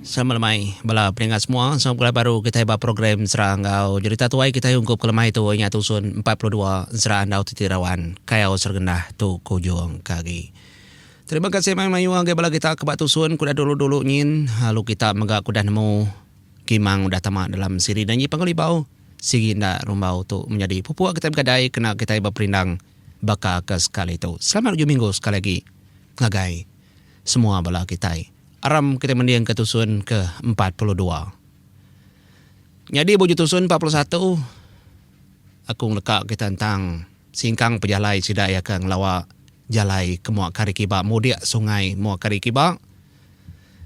Sama lemai bala peninga semua sama pegulai baru kitai ba program Sera enggau Jerita Tuai kitai ungkup ke lemai tu ingat usun empat puluh dua Sera Andau Titi Rawan Kayau Sergendah tu kujung ke agi. Terima kasih mai mayuh agi bala kita ke ba tusun ke udah dulu-dulu nyin lalu kita mega ke udah nemu kimang udah tama dalam siri enda nyi panggul ibau sigi enda rumbau tu menyadi pupuk kitai begadai kena kitai beperindang baka ke sekali tu. Selamat ujung minggu sekali agi. ngagai semua bala kitai. Aram kitai mendingka tusun ke empat puluh dua. Nyadi buju tusun empat puluh satu, aku ngeleka kita ntang singkang pejalai sida iya ke ngelawa jalai ke mua kari kiba mudik sungai mua kari kiba.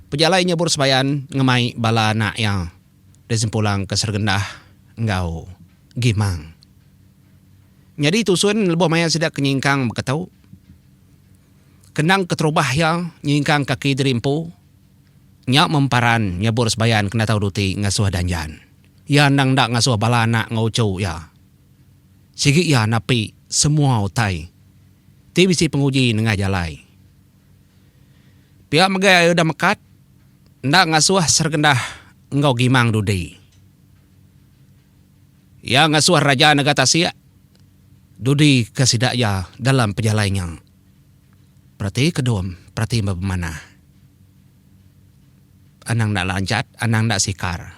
Pejalai nyebur sebayan ngemai bala anak iya. disempulangka Sergendah enggau Gimang. Nyadi tusun lebuh maya sida ke nyingkang beketu, kendang keterubah iya nyingkang kaki diri empu, nya memparan nyebur sebayan kena tau duti ngasuh danjan. Iya endang enda ngasuh bala anak enggau uchu iya. Sigi iya napi semua utai ti bisi penguji nengah jalai. Pia mega iya udah mekat enda ngasuh Sergendah enggau Gimang dudi. Iya ngasuh Raja Nega Tasik dudi ke sida iya dalam pejalai nya. Perati ke dom, perati meh bemanah. Anang enda lanjat, anang enda sikar.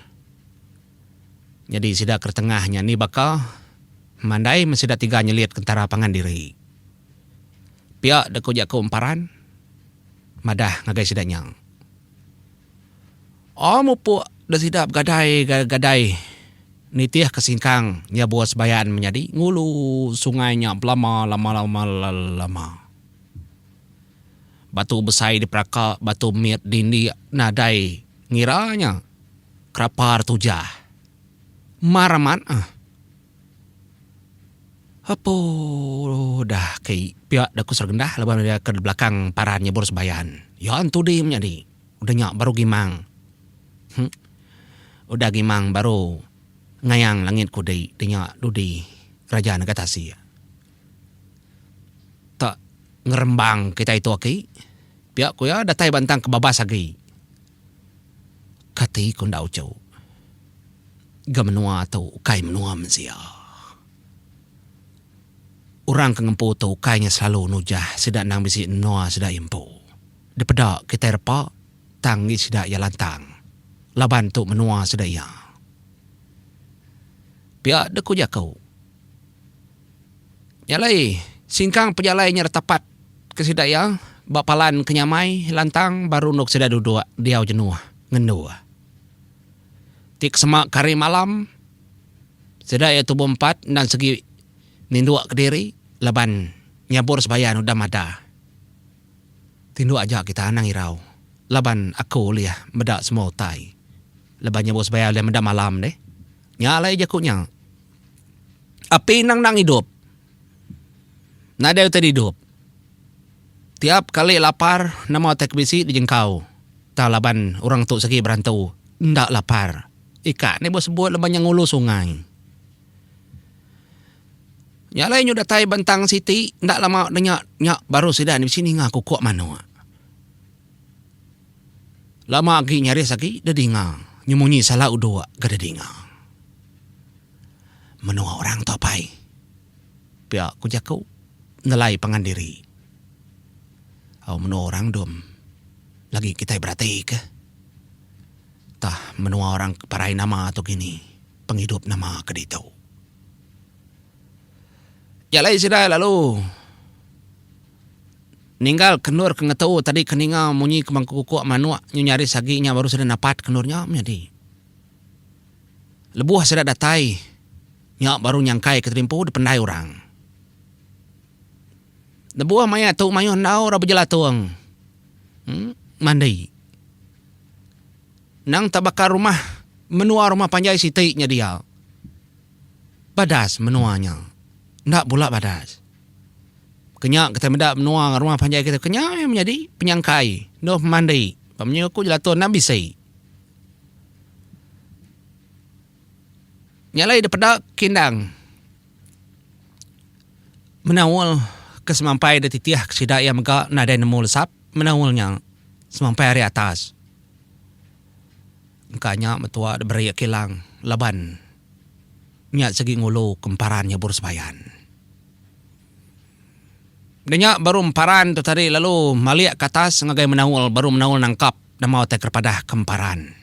Nyadi sida ke tengah nya ni baka mandai men sida tiga nyelit kentara pangan diri. Pia da ku jaku emparan madah ngagai sida nya. Aa mupuk da sida begadai gadai nitih ke singkang nyabur sebayan menyadi ngulu sungai nya belama lama lama lama. Batu besai diperaka batu mit dindik nadai ngira nya kerapar tujah. Mar amat ah. Apuuh dah kei pia da ku Sergenda laban udah ke belakang paran nyebur sembayan. Ya entu dih menyadi. Udah nya baru gimang. Huh. Udah gimang baru ngayang langit ku dei deh nya dudi raja nega tasik. Tak ngerembang kitai tu aki. Pia ku iya datai bantang kebabas agi. Kati ku enda uchu. Ga menua tu ukai menua mensia. Orang ke ngempu tu ukai nya selalu nujah sida endang bisi menua sida empu. Dipeda kitai repa tang ngi sida iya lantang laban tu menua sida iya. Pia deh ku jaku. Nya alai, singkang pejalai nya detapat ke sida iya ba palan ke nyamai lantang baru endog sida dudok diau jenuh ngendur. Ti kesema ke hari malam, sida iya tubuh empat endang segi ninduk kediri laban nyabur sebayan udah madah. Tinduk aja kita anang irau laban aku ulih meda semua utai laban nyabur sebayan ulih meda malam deh. Nya alai jaku nya. Api endang endang idup. Nadai utai didup. Tiap kali lapar nama utai ke bisi dijengkau. Tau laban orang tu segi berantu enda lapar. Ika ni buk sebut laban iya ngulu sungai. Nya alai nyu datai bentang siti enda lama nya nya baru sida ni bisi ninga kukuk manuk. Lama agi nyaris agi dedinga nyemunyi sala uduk ke dedinga menua orang tu apai pia ku jaku nelai pangan diri au menua orang dom lagi kitai berati ke tah menua orang ke parai nama tu kini pengidup nama ke ditu. Jalai sida lalu. Ninggal kendur ke ngetu tadi ke ninga munyi kemangkukuk manuk nyu nyaris agi nya baru sida napat kendur nya menyadi. Lebuh sida datai nya baru nyangkai ke tadi empu dipendai orang. Lebuh maya tu mayuh endaur aba jelatung mandi. Nang tak baka rumah menua rumah panjai siti nya dia. Badas menua nya. Enda bula badas. Kenya kitai meda menua enggau rumah panjai kitai kenya meh menyadi penyangkai endur pemandi ba menyoh aku jelaton enda bisi. Nya alai deh peda kindang menaul ke semampai deh titih ke sida iya mega nadai nemu lesap menaul nya semampai ari atas engka nya metua deh beri kilang laban. Nya segi ngulu ke emparan nyebur sebayan. Udah nya baru emparan tu tadi lalu malik ke atas ngagai menaul baru menaul nangkap nama utai ke dipadah ke emparan.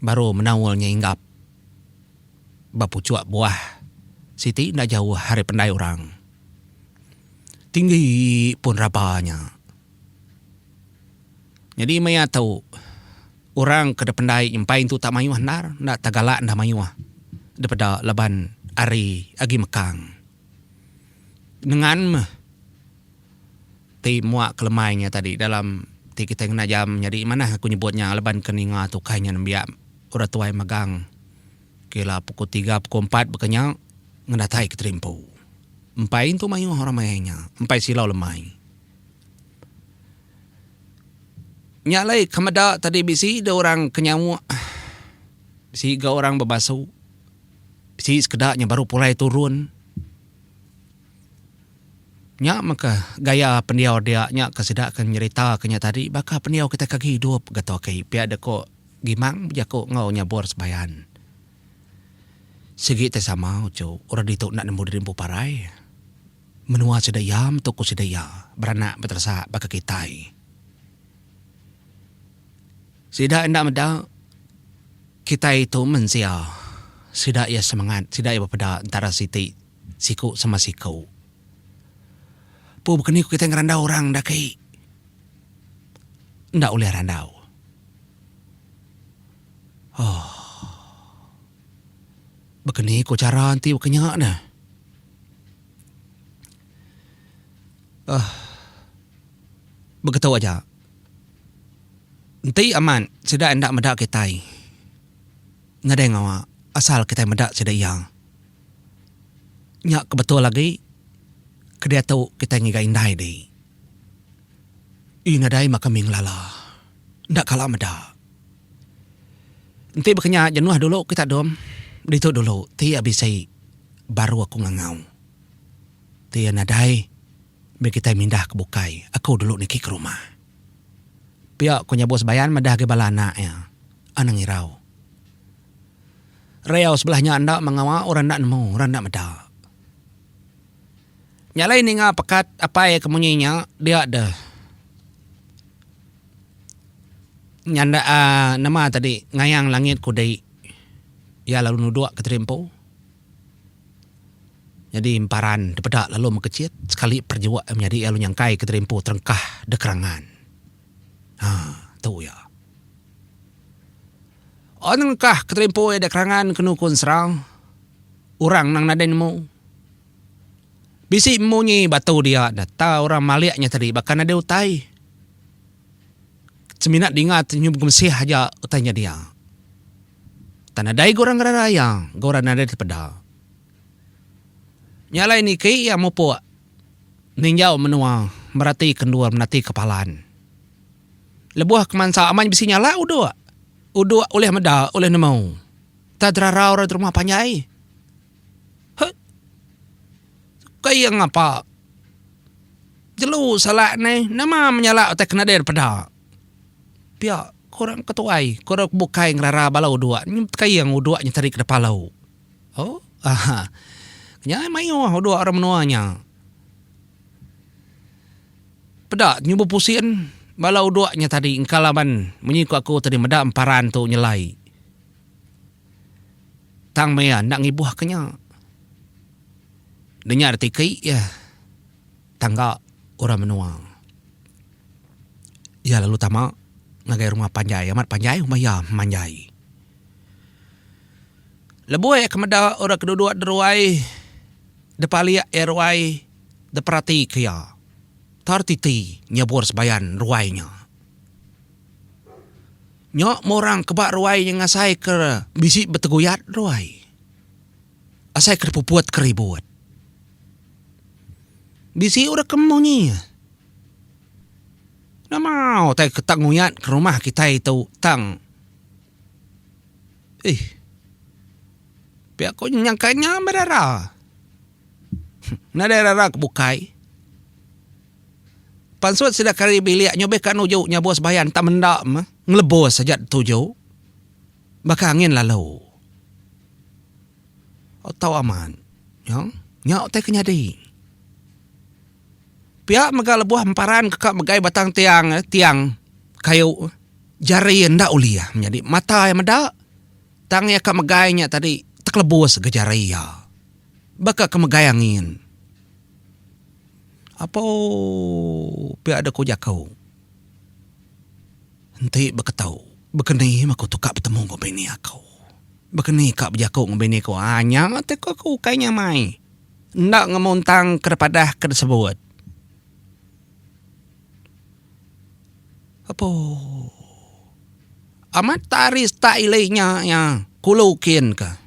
Baru menaul nya inggap ba puchuk buah siti enda jauh ari pendai orang. Tinggi pun raba nya. Nyadi meh iya tu orang ke dipendai nyempai intu tak mayuh endar enda tegalak enda mayuh dipeda laban ari agi mekang nengan meh ti mua ke lemai nya tadi dalam ti kitai ngena jam nyadi manah aku nyebut nya laban ke ninga tu kai nya nembiak orang tuai megang okay la pukul tiga pukul empat baka nya ngedatai kitai rimpu empai intu mayuh orang mayuh nya empai silau lemai. Nya alai ke meda tadi bisi deh orang ke nyauk bisi ga orang bebasu bisi sekeda nya baru pulai turun nya meka gaya pendiau dia nya ke sida ke nyerita ke nya tadi baka pendiau kitai ke agi idup ga tu agi pia deh ko Gimang bejaku enggau nya Buar Sebayan sigi tai sama uchu orang ditu enda nemu diri empu parai. Menua sida iya metu ku sida iya beranak beteresa baka kitai. Sida enda meda kitai tu mensia. Sida iya semangat, sida iya bepeda entara siti siku sama siku. Pu bekeni ku kitai ngerandau orang enda aki. Enda ulih randau. Ohh. Baka ni ko chara enti baka nya ne. Uh, begitu aja. Enti amat sida enda meda kitai. Nadai ngawa asal kitai meda sida iya. Nya ke betul agi kediatu kitai ngiga indai dih. Nadai maka mih ngelala. enda kala meda. Enti baka nya jenuh dulu kita dom ditu dulu ti iya bisi baru aku ngangau. Ti iya nadai mih kitai mindah ke bukai aku dulu niki ke rumah. Pia ku nyabu Sebayan madah agi bala anak iya. Anang irau. Reau sebelah nya enda mengawa orang enda nemu orang enda meda. Nya alai ninga pekat apai ke munyi nya dia deh nyanda aaa nama tadi ngayang langit kudi iya lalu nuduk ke tiri empu nyadi emparan dipeda lalu mekechit sekali perejok iya menyadi lalu nyangkai ke tiri empu terengkah deh kerangan haa tu iya. Un nerengkah ke tiri empu iya deh kerangan kenu ku ensera orang nang nadai nemu. Bisi munyi batu dia enda tau orang malik nya tadi baka nadai utai. Semina dinga ti nyuh begemesih aja utai nya dia. Tan nadai ga orang ngerara iya ga orang nadai ti peda. Nya alai niki iya mupuk ninjau menua merati ke endur merati ke palan. Lebuh ke mansa amat bisi nyala uduk. Uduk ulih meda ulih nemu. Tau terarau orang ti rumah panjai. Hut. Ukai iya ngapa. Jelu salak neh nama menyalak utai kenadir peda. Pia ku orang ke tuai ku orang ke bukai ngerara bala udok nyi ukai iya ngan udok nyeteri ke depa alu. Oh ahaa nya mayuh udok orang menua nya. Peda nyubu pusin bala udok nya tadi engka laban munyi ku aku tadi meda emparan tu nyelai. Tang maya enda ngibuh ke nya. Nenya retiki iya tangga orang menua. Iya lalu tama ngagai rumah panjai amat panjai rumah iya manjai. Lebuh iya ke meda orang ke duduk di ruai dep alik iya ruai dep perati ke iya. Tau retiti nyebur sebayan ruai nya. Nya meh orang ke ba ruai nya ngasai ke bisi beteguyat ruai. Asai ke dipuput ke ribut. Bisi orang ke meh nyi. Nama utai ke tang nguyat ke rumah kitai tu tang eih pia ku nyangka nya meh dara. Nadai dara ke bukai. Pansut sida kari bilik nyubika nuju nyabus bayan entang menda meh ngelebus aja dituju baka angin lalu. Au tau amat nyau nya utai ke nyadi. Pia mega lebuh emparan ka megai batang tiang tiang kayu jari iya enda ulih menyadi mata iya meda tang iya ka megai nya tadi tekelebus ga jari iya baka ke megai angin. Apo pia da ku jaku enti beketu bekeni meh ku tuka betemu enggau bini aku. Bekeni ka bejaku enggau bini ku aa nya ti ku aku ukai nya amai. Enda ngemuntang ke padah ke disebut. Apo amat ari stak ili nya iya kulu kin ka.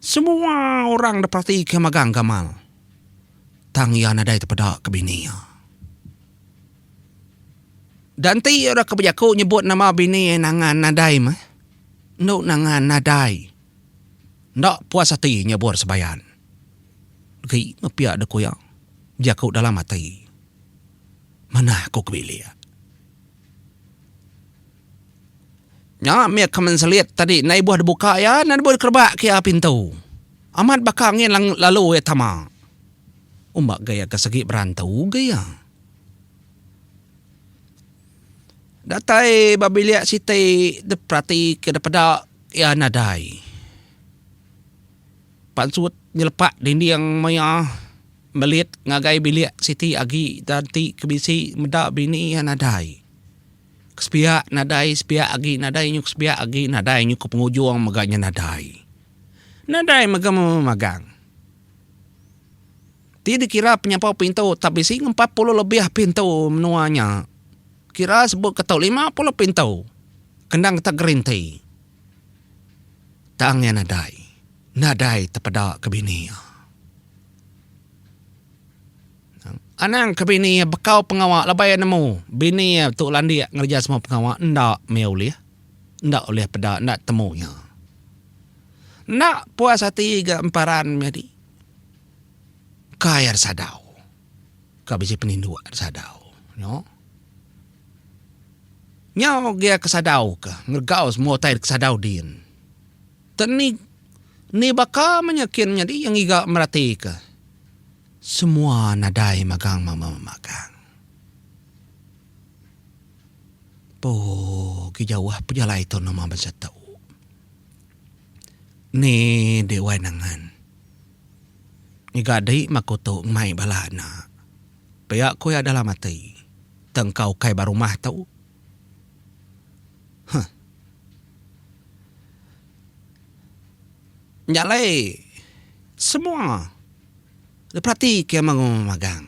Semua orang da peratika magang gamal tang iya nadai tepeda ke bini iya. Da enti iya deka bejaku nyebut nama bini iya Nangan nadai meh. Enu Nangan nadai enda puas ati nyabur Sebayan. Agi meh pia da ku iya bejaku dalam ati manah aku ke bilik. Nya mih keman selit tadi enda ibuh dibuka iya enda ibuh dikerebak ke iya pintu. Amat baka angin lalu iya tama. Umba ga iya ke segi berantu ga iya. Datai ba bilik siti diperati ke dipeda iya nadai. Pansut nyelepak dinding maya melit ngagai bilik siti agi da enti ke bisi meda bini iya nadai. Kesepiak nadai sepiak agi nadai nyu kesepiak agi nadai nyu ke pengujung mega nya nadai. Nadai mega memagang. Ti dikira penyampau pintu tak bisi ngan empat puluh lebih pintu menua nya. Kira sebut ke tau lima puluh pintu kendang kita gerinti. Tang iya nadai. Nadai tepeda ke bini iya. Anang ke bini iya bekau pengawa labai iya nemu bini iya tu landik ngereja semua pengawa enda meh ulih. Enda ulih peda enda temu iya. Enda puas ati ga emparan nyadi. Kai iya disadau. Ka bisi peninduk iya disadau. Nyau. Nyau ugi iya kesadau ka ngeregau semua utai kesadau din. Teni ni baka meh iya kin nyadi iya ngiga meratika. Semua nadai magang mama magang. Poo gi jauh pejalai tau nama bansa tu. Ni deh wai nangan. Ngiga deh mah aku tu mai bala ena. Pia ku iya dalam ati. Tang ka ukai ba rumah tu. Huh. Nya alai semua Dipelati ke mengu magang.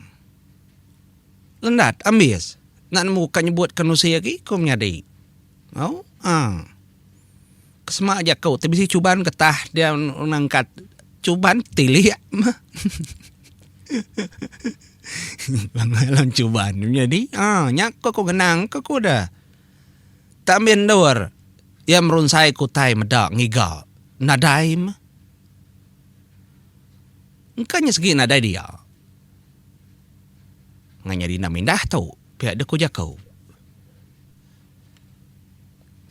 Lendat, ambis. Enda nemu ka nyebut ke nerusi agi ku menyadi. Au, aang. Ke sema jaku ti bisi chuban getah dia nangkat chuban tilik meh. Lama lawan chuban ku menyadi. Aang, nya ke ku ngenang ke ku de. Tak mih endur iya merunsai ke utai meda ngiga. Nadai meh. Engka nya segi nadai dia. Nganya dina mindah tu pia deh ku jaku.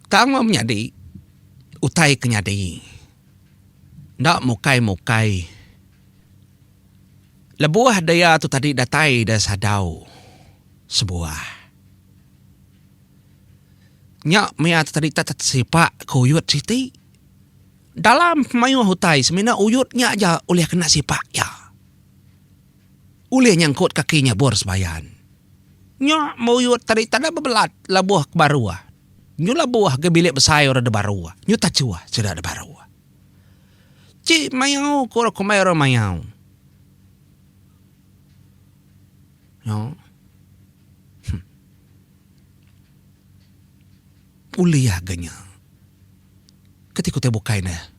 Tang meh menyadi utai ke nyadi enda mukai-mukai lebuh dia tu tadi datai da sadau sebuah. Nya mia tu tadi tak tesipak ke oyod siti. Dalam pemayuh utai semina uyut nya aja ulih kena sipak iya. Ulih nyangkut kaki nyabur sebayan. Nya meh uyut tadi tanda bebelat labuh ke baru. Nyu labuh ke bilik besai orang de baru. Nyu tachuh sida de baru. Ti mayau ku orang kumbai orang mayau. Nyo. Huh. Kuliah ga nya. Kati ku utai bukai ne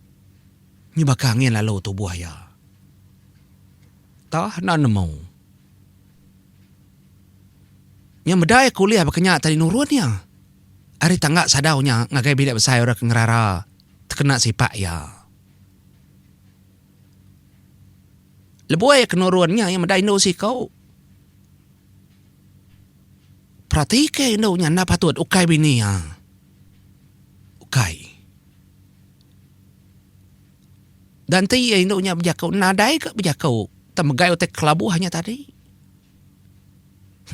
nyuba ka angin lalu tubuh iya. Tah enda nemu. Nya meda iya kuliah baka nya tadi nurun iya ari tangga sadau nya ngagai bilik besai orang ke ngerara tekena sipak iya. Lebuh iya ke nurun nya iya meda indu siku. Peratika indu nya enda patut ukai bini iya. Ukai. Dan enti iya indu nya bejaku nadai ka bejaku tang megai utai kelabuh nya tadi.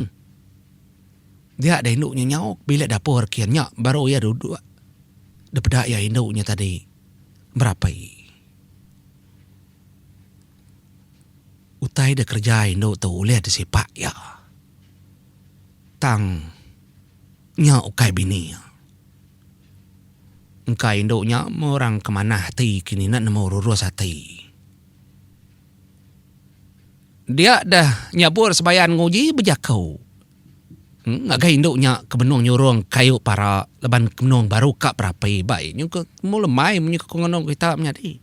Huh. Dia deh indu nya nyau bilik dapur kian nya baru iya duduk dipeda iya indu nya tadi berapai. Utai da kereja indu tu ulih disipak iya. Tang nya ukai bini iya. Engka indu nya meh orang ke manah ati ke mina nemu rurus ati. Dia deh nyabur sebayan nguji bejaku ngagai indu nya ke benung nyurung kayu para laban ke benung baru ka berapi ba iya nyungka temu lemai menyukung anang kita menyadi.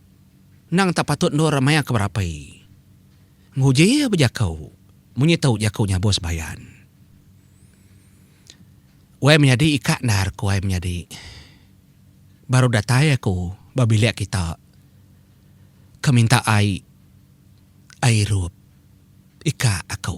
Endang tak patut endur maya ke berapai. Nguji iya bejako munyi tau jako nya bos bayan. Wai menyadi ikak endar ku ai menyadi. Baru datai aku ba bilik kita ke minta ai ai irup ikak aku.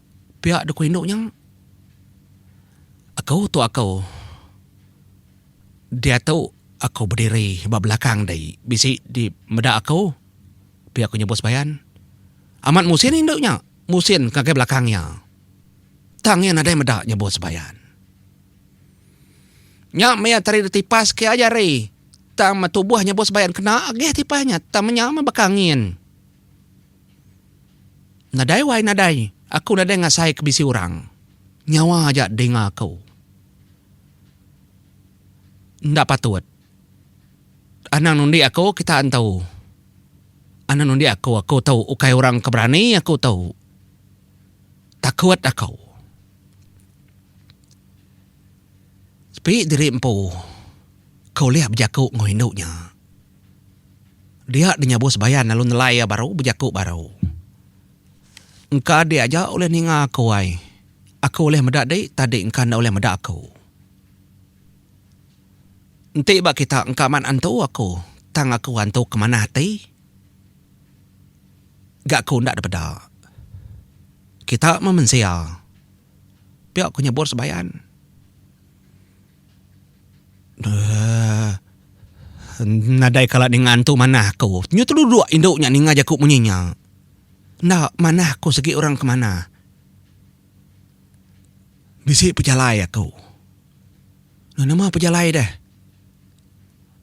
Pia dku indu nya aku tu aku diatu aku bediri ba belakang dei bisi di meda aku pia ku nyebut Sebayan amat musin indu nya musin ngagai belakang iya tang iya nadai meda nyebut Sebayan nya meh iya tadi ditipas ke aja hari tang metubuh nyebut Sebayan kena agih tipas nya tang menya meh baka angin. Nadai wai nadai, aku nadai ngasai ke bisi orang. Nyawa aja dinga aku. Enda patut. Anang nundi aku kita entu. Anang nundi aku aku tu ukai orang ke berani aku tu. Takut aku. Sepi diri empu ke ulih bejaku enggau indu nya. Dia dinyabuh sebayan lalu nelai iya baru bejaku baru. Engka adi aja ulih ninga aku ai. Aku ulih meda di tadi engka enda ulih meda aku. Enti ba kita engka mat antu aku tang aku antu ke manah ati ga aku enda dipeda. Kita meh mensia pia ku nyebut sebayan. Nadai kala ninga antu manah aku. Nyu teluduk indu nya ninga jaku munyi nya. Enda manah aku sigi orang ke manah. Bisi pejalai aku. Nama pejalai deh.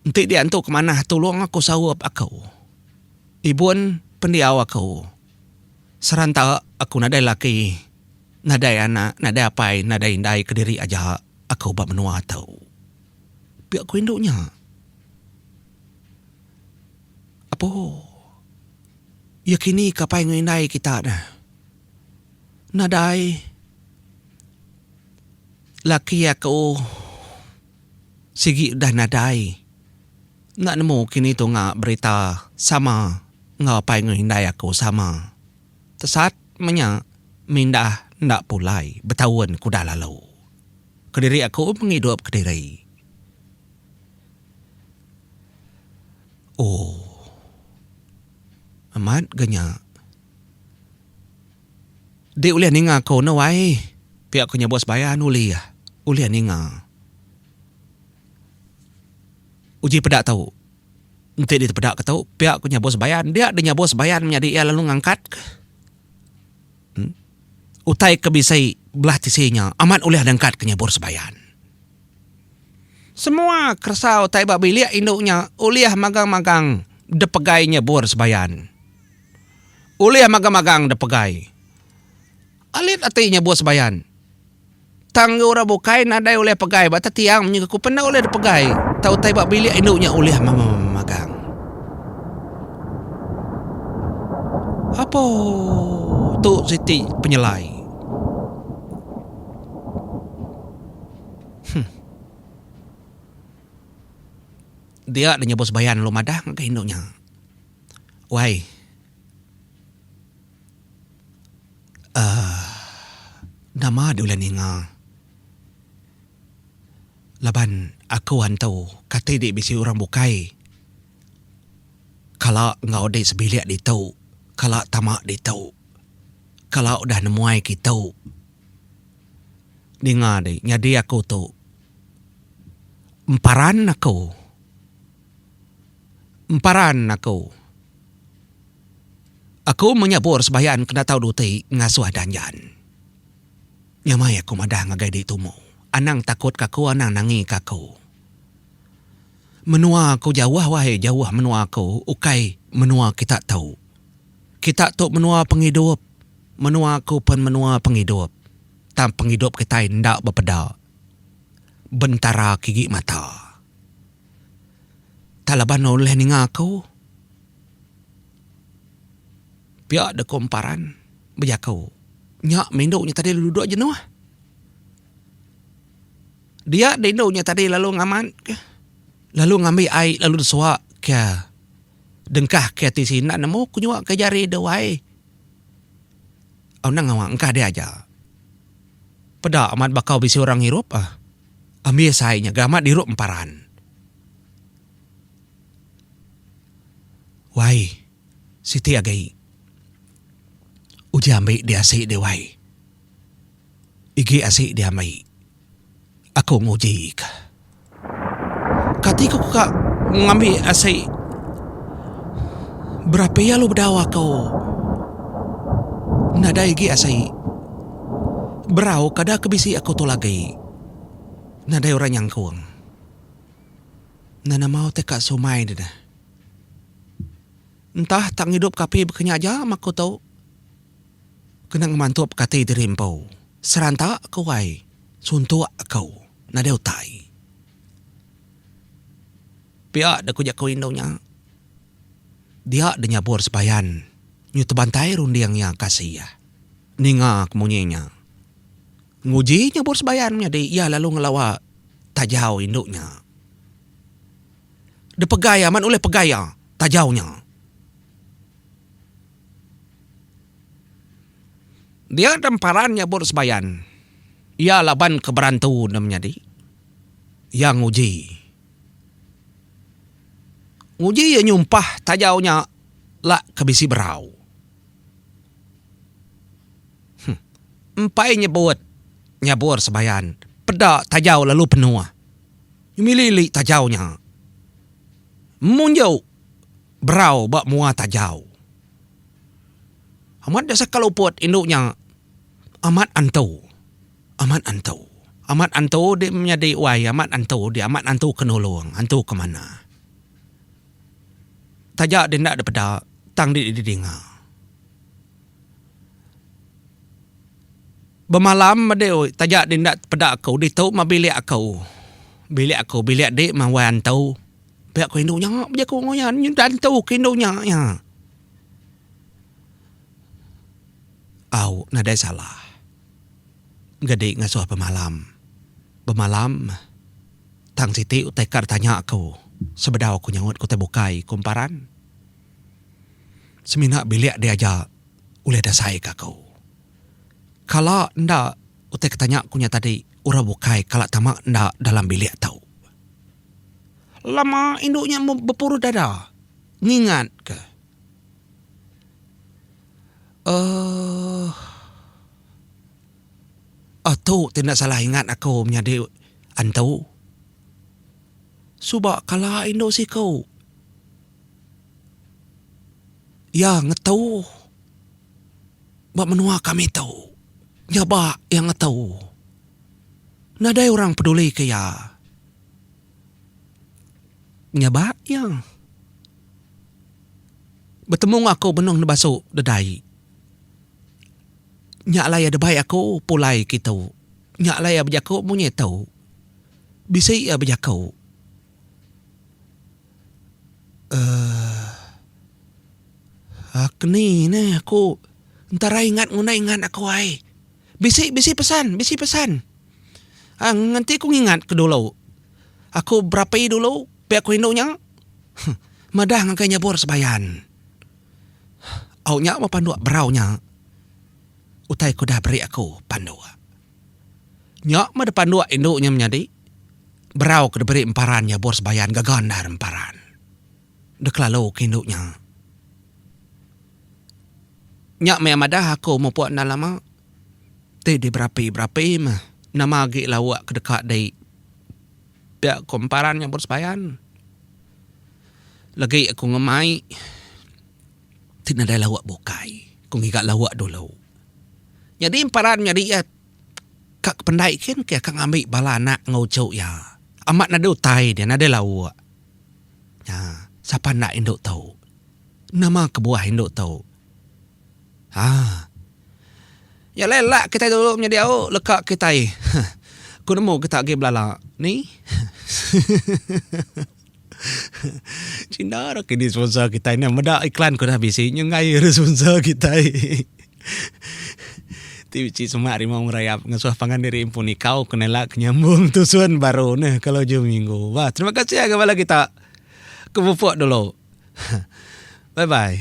Enti dia antu ke manah tulung aku saup aku. Ibun pendiau aku. Seranta aku nadai laki, nadai anak, nadai apai, nadai indai kediri aja. Aku ba menua tu. Pia ku indu nya. Apo. Iya kini ka pai enggau indai kita neh. Nadai. Laki aku. Sigi udah nadai. Enda nemu kini tunga berita sama enggau pai enggau indai aku sama. Tesat menya mindah enda pulai betaun ke udah lalu. Kediri aku pengidup kediri. Ooh. Amat ga nya. Di ulih ninga ko no ai. Pia ko nyabut sebayan ulih. Ulih ninga. Uji peda tu. Enti ditepeda ke tu pia ku nyabus bayan dia deh nyabus bayan menyadi iya lalu ngangkat ka uhh utai ke bisi belah tisi nya amat ulih ngangkat ka nyabus bayan. Semua keresa utai ba bilik indu nya ulih magang-magang dep pegai nyabus bayan. Ulih magang-magang dep pegai alit ati nyabus bayan. Tang enggau orang bukai nadai ulih pegai ba tetiang menyuka ku penda ulih dipegai tau utai ba bilik indu nya ulih magang. Apo tu siti penyelai. Huh. Dia deh nyebut sebayan lu madah ngagai indu nya. Wai. Aaa nama deh ulih ninga laban aku antu kati deh bisi orang bukai kala enggau deh sebilik ditu kala tama ditu kala udah nemuai kitu ninga deh nyadi aku tu emparan aku. emparan aku. Aku meh nyabur sembahyang kena tau duti ngasuh danjan. Nyamai aku madah ngagai di tumu. Anang takut ka aku anang nangi ka aku. Menua aku jauh wahai jauh menua aku ukai menua kita tu. Kita tu menua pengidup. Menua aku pun menua pengidup. Tang pengidup kitai enda bepeda bentara kigi mata. Tang laban ne ulih ninga aku. Pia deh ku emparan bejaku. Nya meh indu nya tadi duduk jenuh. Dia deh indu nya tadi lalu ngamat ka. Lalu ngambi ai lalu disua ka dengkah ka ti sina nemu ku nyua ka jari deh wai. Au nang awang engkah dia aja. Peda amat bakau bisi orang ngirup ah. Ambi asai nya ga amat dirup emparan. Wai. Siti agai. Uji ambi di asi dih wai. Igi asi di ambi. Aku nguji ka. Kati ku ka ngambi asi berapi alu bedau aku nadai igi asi. Berau kada ke bisi aku tu lagi nadai orang nyangkung. Enda nama teka sumai deh neh. Entah tak ngidup ke api baka nya aja meh aku tu. Kena ngemantup ke ati diri empu. Seranta ku ai suntuk aku nadai utai. Pia deh ku jaku indu nya. Dia deh nyabur sebayan nyu tebantai runding iya kasih iya. Ninga ke munyi nya, nguji nyebut sebayan menyadi iya lalu ngelawa tajau indu nya. Depegai amat ulih pegai iya tajau nya. Dia deh emparan nyebut sebayan iya laban ke berantu ne menyadi iya nguji. Nguji iya nyumpah tajau nya lak ke bisi berau. Empai nyebut nyabur sebayan peda tajau lalu penuh. Mili li tajau nya. Munju berau ba mua tajau. Amat da saka luput indu nya amat antu. Amat antu. Amat antu dik menyadi wai amat antu dik amat antu ke nulung antu ke manah. Taja deh enda dipeda tang deh didinga. Bemalam madi oi taja deh enda peda aku ditu meh bilik aku. Bilik aku bilik dek meh wai antu. Pia aku indu nya bejaku enggau iya nyu dah antu ke indu nya iya. Au nadai salah gadi ngasuh bemalam. Bemalam. Tang siti utai ka ditanya aku sebedau aku nyaut ke utai bukai, ku Emparan. Semina bilik dia aja ulih dasai ke aku. Kala enda utai ke tanya aku nya tadi orang bukai kala tama enda dalam bilik tu. Lama indu nya bepuruh dada ngingat ke. Uhh. Aaa tu ti enda salah ingat aku menyadi antu. Suba kala indu siku iya ngetu ba menua kami tu nyaba iya ngetu nadai orang peduli ke iya nyaba iya betemu enggau aku benung nebasu deda ai. Nya alai ada bai aku pulai kitu. Nya alai iya bejaku munyi tu. Bisi iya bejaku. Uhh. Ak ni ne aku entarai ngat ngunai ngan aku ai. Bisi bisi pesan bisi pesan. Ang enti ku ngingat ke dulu. Aku berapi dulu pia ku indu nya. Huh. Madah ngagai nyabur sebayan. Au nya meh panduk berau nya utai ku udah beri aku panduk. Nya meh de panduk indu nya menyadi berau ke diberi emparan iya bor sebayan gaga endar emparan. De kelalu ke indu nya. Nya meh iya madah aku mupuk enda lama ti diberapi-berapi meh nama agi lauk ke deka dei Pia ku emparan nya bersebayan legi aku ngemai ti nadai lauk bukai ku ngiga lauk dulu. Nyadi emparan nyadi iya ka kependai kin ke ka ngambi bala anak enggau uchu iya amat nadai utai dia nadai lauk nya sapa enda indu tu nama kebuah indu tu. Haa. Nya alai lak kitai dulu menyadi au leka kitai. Huh. Ku nemu kita agi belala ni. Ceh enda ra kini sponsor kitai ne meda iklan ku dah bisi nyau ngai re sponsor kitai. Ti bisi semak rimau ngerayap ngesuh pangan diri empu nikau ke nela ke nyambung tusun baru neh ke lojo minggu. Bah terima kasih agi bala kita ke mupuk dulu. Bye bye.